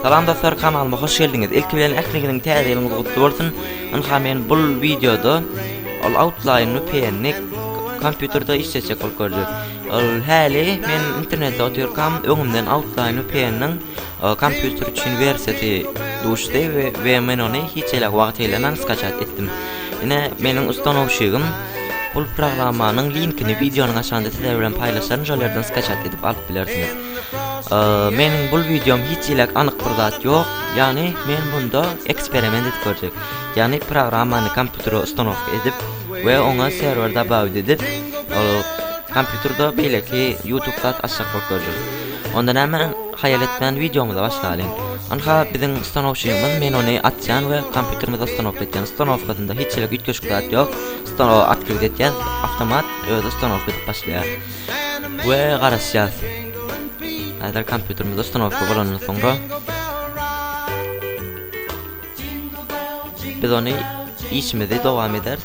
Salam dostlar kanalyma hoş geldiňiz. Ilki bilen ähliňiziň täze ýylyňyz gutly bolsun. Ynha men bu wideoda ol outline-ni peýenlik kompýuterde işleýjek bolup görjek. Ol häli men internetde otyrkam öňümden outline-ni peýenlik Kompýuter üçin wersiýasy duşdy we men ony hiç elek wagt eýlemän skaçat etdim. Ine, meniň ustanowşigim. Bul programmanyň linkini wideonyň aşagynda sizler bilen paýlaşaryn, şol ýerden skaçat edip alyp bilersiňiz. Meniň bul wideom hiç elek anyk bir zat ýok, ýagny men bunda eksperiment edip görjek. Ýagny programmany kompýutere ustanowka edip we oňa serwer dabawit edip, kompýuterde beýleki youtube zat açjak bolup görjek. Onda näme? Haýal etmän wideomyza başlalyň. Ynha biziň stanowçymyz men ony açýan we kompýuterimize ustanowka etýän ustanowkasynda hiç hili üýtgeşik zat ýok stanowa at girdi etýän awtomat özi ustanowka edip başlaýar we garaşýas häzir kompýuterimize ustanowka bolandan soňra biz ony işimizi dowam ederis.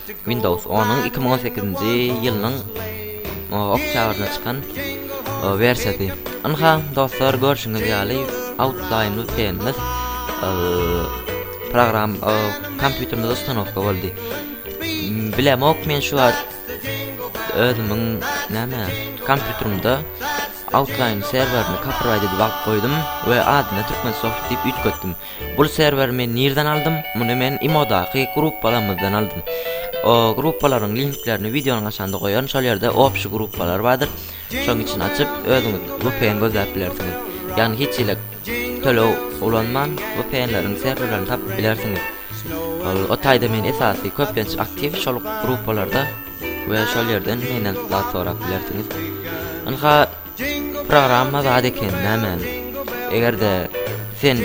Windows on-yň iki müň on sekizinji ýylynyň oktýabrynda çykan wersiýasy. Ynha, dostlar, görşüňiz ýaly, Outline-ly Tennis program kompýuterimde ustanowka boldy. Bilemok men şu wagt özümiň näme kompýuterimde Outline serwerini copyright edip alyp goýdum we adyna Türkmensoft diýip üýtgetdim. Bul serweri men nirden aldym? Muny men imodaky gruppalamyzdan aldym. O gruppalaryň linklerini wideonyň aşagynda goýaryn, şol ýerde obşi gruppalar bardyr. Şoň üçin açyp özüňiz vpn gözläp bilersiňiz. Ýagny hiç hili töleg ulanman vpnleriň serwerlerini tapyp bilersiňiz. Ol o taýda men esasy köplenç aktiw şol gruppalarda we şol ýerden menden zat sorap bilersiňiz. Ynha Programma zat eken nämäni. Egerde sen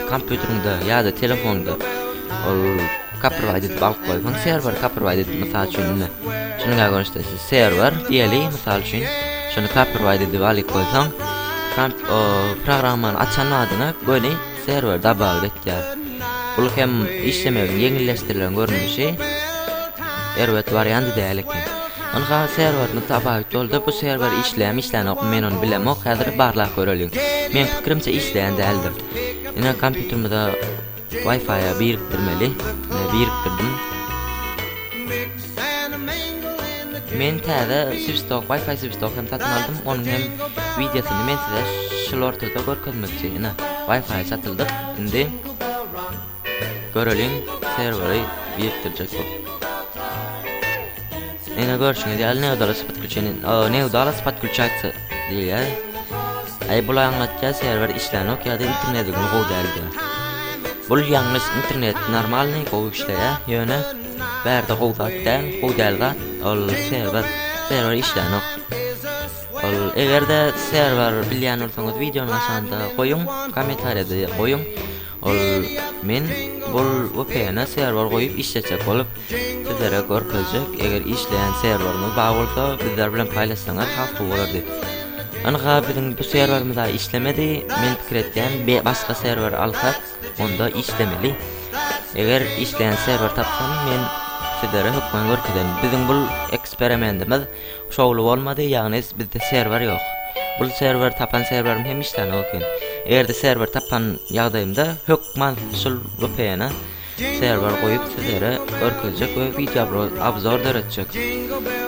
kompýuteriňde ýa-da telefonda ol kaprwayt edip alyp goýsaň serwer kaprwayt edip mysal üçin indi şunuňa görüşde siz serwer diýeli mysal üçin şuny kaprwayt edip alyp goýsaň programmany açan badyna göni Serwer dabawut etýär. Bul hem işlemegiň ýeňilleşdirilen görnüşi. Erbet warianty däl eken. Ynha serwerni dabawut boldy. Bu serwer işleýämi işlänokmy men ony bilemok. Häzir barlap göreliň. Meň pikirimçe işleýän däldir. Ine kompýuterimize wifi-a birikdirmeli. Ine birikdirdim. Men täze swisstok wifi swisstok hem satyn aldym onuň hem wideosyny men size şul ortada görkezmekçi ine wifi satyldyk indi göreliň serweri birikdirjek bu ine görşüňiz ýaly neudalosy podklýuçeni neudalosy podklýuçatsiýa diýilýär aý bul aňlatýar serwer işlänok ýa-da internet ugly gowy däl diýýär bul ýalňyş internet normalnyý gowy işleýär ýöne Bärde gowy zat däl, gowy däl zat, ol serwer, serwer işlänok. Ol egerde serwer bilýän bolsaňyz wideonyň aşagynda goýuň, kommentariýada goýuň. Ol men bul VPN-e serwer goýup işletjek bolup sizlere görkezjek. Eger işleýän serweriňiz bar bolsa bizler bilen paýlaşsaňyz has gowy bolardy. Ynha biziň bu serwerimiz-a işlemedi. Men pikir etýän başga serwer alsak Onda işlemeli. Eger işleýän serwer tapsam, men sizlere hökman görkezerin. Biziň bu eksperimentimiz şowly bolmady, ýagny bizde serwer ýok. Bu serwer tapan serwerim hem işlänok eken. Eger-de serwer tapan ýagdaýymda hökman şul VPN-e serwer goýup sizlere görkezjek we wideo obzor döretjek.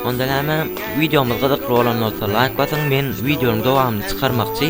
Onda näme? Wideomyz gyzykly bolan bolsa laýk basyň, men wideonyň dowamyny çykarmakçy.